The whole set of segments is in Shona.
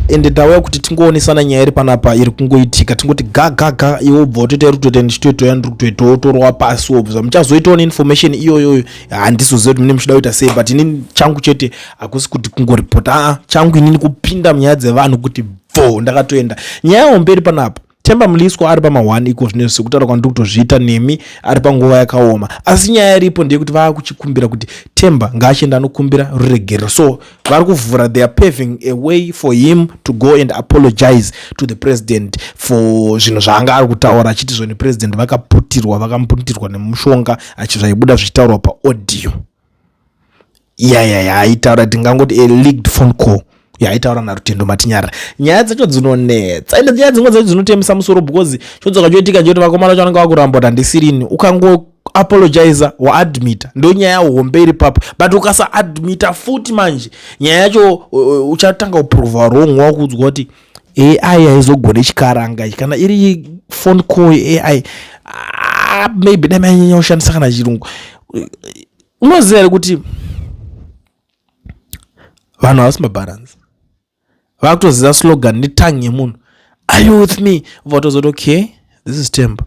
ende ndauya kuti tingoonesana nyaya iri panapa iri kungoitika tingoti gagaga iwe ubva utoita iri kutoita ndichitoitawo yandiri kutoitawo utorova pasi wobva muchazoitawo neinformation iyoyoyo handizoziva kuti mune muchida kuita sei but inini changu chete hakusi kuti kungoripota aa ah, changu inini kupinda munyaya dzevanhu kuti bvo ndakatoenda nyaya hombe iri panapa Themba Mliswa ari pama one iko zvino sekutaura kwandiri kutozviita nemi ari panguva yakaoma asi nyaya iripo ndeyekuti vaakuchikumbira kuti Themba ngaachienda anokumbira ruregerero so vari kuvhura they are paving a way for him to go and apologize to the president for zvinhu zvaanga ari kutaura achiti zvoni president vakaputirwa vakamuputirwa nemushonga achizvaibuda zvichitaurwa paaudio ya ya ya aitaura tingangoti a leaked phone call yaitaura narutendo matinyara nyaya dzacho dzinonetsa ende nyaya dzimwe dzacho dzinotemesa musoro because chodzoka choitika nje kuti vakomana vacho vanenge vakuramba kuti handisirini ukango apologiza waadmita ndo nyaya hombe iri papo but ukasa admita futi manje nyaya yacho uchatanga kuprova wrong wakuudzwa kuti AI haizogone chikaranga ichi kana iri phone call AI ah, maybe dai manyanya kushandisa kana chirungu unoziva here kuti vanhu havasi mabalance vakutoziva slogan netangi yemunhu are you with me votozoti okay this is temper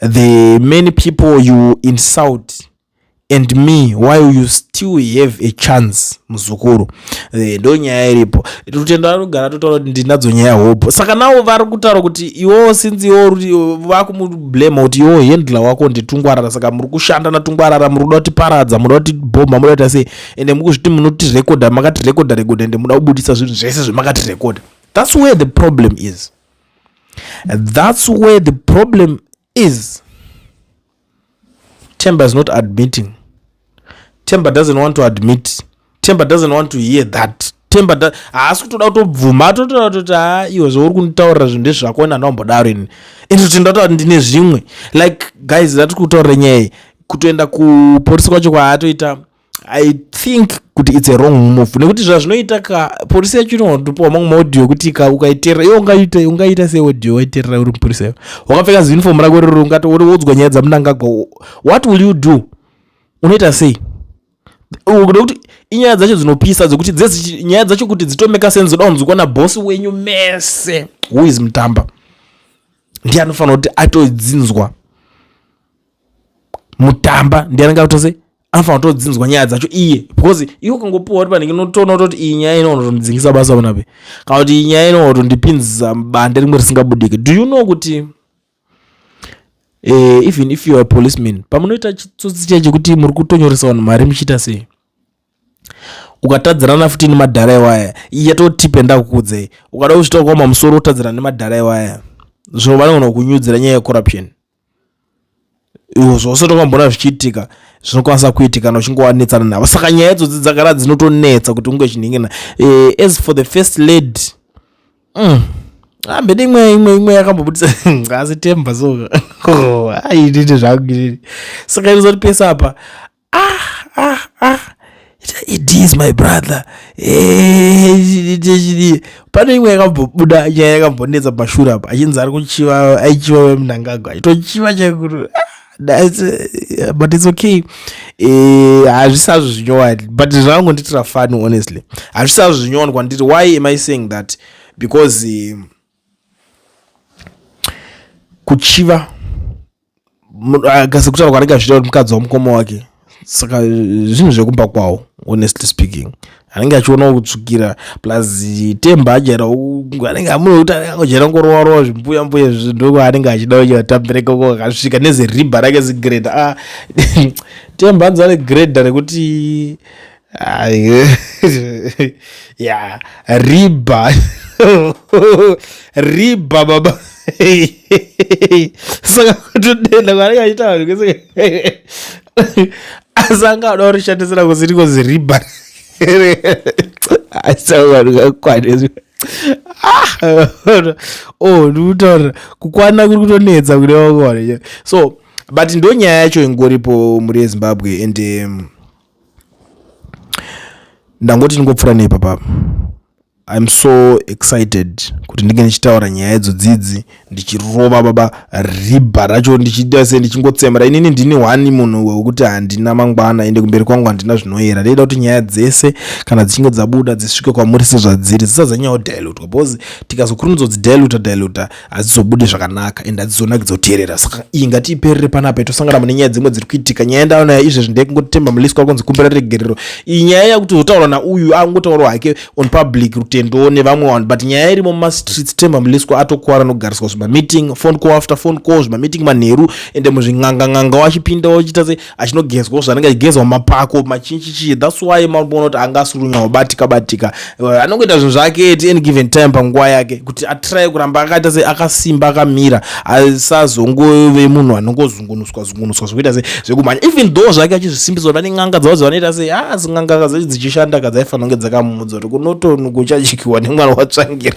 The many people you insult and me while you still have a chance muzukuru eh, ndo nyaya iripo rutendo anogara totaura kuti ndinadzo nyaya hope saka nawo vari kutaura kuti iwowo sinzi iwo vakumublema kuti iwowo handler wako nditungwarara saka muri kushanda natungwarara muri kuda kutiparadza muda kutibhomha muda kuita sei ende mukuzviti munotitirekodha makatirekodha rekodha ende muda kubudisa zvinhu zvese zvemakatirekodha thats where the problem is That's where the problem is. Temba is not admitting. Temba doesn't want to admit. Temba doesn't want to hear that. Temba haasi kutoda kutobvuma atotoda kutoti ha ah, iwe zvouri kunditaurira zvinhu ndezvako ina ndambodaro ini ini kuti ndatoa ndine zvimwe like guys ndati kutaurira nyaya kutoenda kuporisi kwacho kwaatoita i think kuti its a wrong move nekuti zvazvinoita ka purisa yacho inotopiwa mamwe maaudio ekuti ka ukaiterera iwe ungaita ungaita seaudio waiterera uri mupurisa iwe wakapfeka ziuniform rako riri ungati uri wodzwa nyaya dzamunangagwa what will you do unoita sei nekuti inyaya dzacho dzinopisa dzekuti dzezi nyaya dzacho kuti dzitomeka sense dzoda kunzwikwa nabosi wenyu mese who is mutamba ndiye anofanira kuti atodzinzwa mutamba ndiye anenge atose anofanira kutodzinzwa nyaya dzacho iye because iwe ukangopiwa kuti panenge notoona kutoti iyi nyaya ino unotondidzingisa basa panape kana kuti iyi nyaya ino unotondipinzisa bande rimwe risingabudike do you know kuti uh, even if youare policeman pamunoita chitsotsi chai chekuti muri kutonyoresa vanhu mari muchiita sei ukatadzirana futi nemadhara iwaya yatotipe ndakukudzei ukada kuzvitaukoma musoro utadzirana nemadhara iwaya zvino vanogona kunyudzira nyaya yecorruption iwo zvose tokamboona zvichiitika zvinokwanisa kuitika na uchinge wanetsana navo saka nyaya idzodzi dzagara dzinotonetsa kuti unge chinhingina e, eh, as for the first lady mm. ambede ah, imwe imwe imwe yakambobudisa ngazi temba so oh, aitite zvakuitiri saka inozoti pese apa ah ah ah it is my brother eh, pane imwe yakambobuda nyaya yakambonetsa pashura apa achinzi ari kuchiva aichiva vemunangagwa aitochiva chaikuru ah, Uh, but it's okay eh, hazvisazvo uh, zvinyowani but zvakangondiitira fani honestly hazvisazvo zvinyowani kwandiri why am i saying that because uh, kuchiva kasi kutaura kwaanenge achiita kuti mukadzi wamukoma wake saka zvinhu zvekumba kwawo honestly speaking anenge achionawo kutsvukira plus temba ajaira anenge amunokuti anenge angojaira kungorowarowa zvimbuya mbuya zvindoko anenge achida kuti atambire koko akasvika neziribha rake zigreda a ah, temba anzi ane greda rekuti ya riba riba baba saka kutodenda kwaanenge achiita vanhu kwese asi anga ada kurishandisira kusiri kozi riba asaa vanhu kakwanezvi ah, oh ndikutaura kukwana kuri kutonetsa kune vakwana so but ndonyaya yacho ingoripo muri yezimbabwe and um, ndangoti ndingopfuura neipapa im so excited kuti ndinge ndichitaura nyaya idzo dzidzi ndichirova baba ribha racho ndichiita se ndichingotsemera inini ndini hwani munhu wekuti handina mangwana ende kumberi kwangu handina zvinoyera ndaida kuti nyaya dzese kana dzichinge dzabuda dzisvike kwamuri sezvadziri dzisazanyawo dilutwa because tikazokurumidza kudzidiluta diluta hadzizobude zvakanaka and hadzizonakidza kuteerera saka iyi ngatiiperere panapa itosangana mune nyaya dzimwe dziri kuitika nyaya yandaona izvezvi ndekungotemba muliswa wakonzi kumbira regerero iyi nyaya yakutozotaurwa nauyu angotaurwa hake on public rutendowo nevamwe vanhu but nyaya irimo mumastreets temba muliswa atokuvara nogariswa zvimameeting phone call after phone call zvimameeting manheru ende muzvin'angang'anga wachipinda wachita se achinogezwawo zvanenge achigezwa mapako machinchichii thats why makuona kuti anga asurunyawo batika batika eh, anongoita zvinhu zvake at any given time panguva yake kuti atry kuramba akaita se akasimba akamira asazongove munhu anongozungunuswa zungunuswa zvekuita se zvekumhanya even though zvake achizvisimbiswa pane n'anga dzavo dzavanoita se ha ah, zing'anga kazachi dzichishanda kadzaifanira kunge dzakamuudza kuti kunotonukuchadyiwa nemwana watsvangira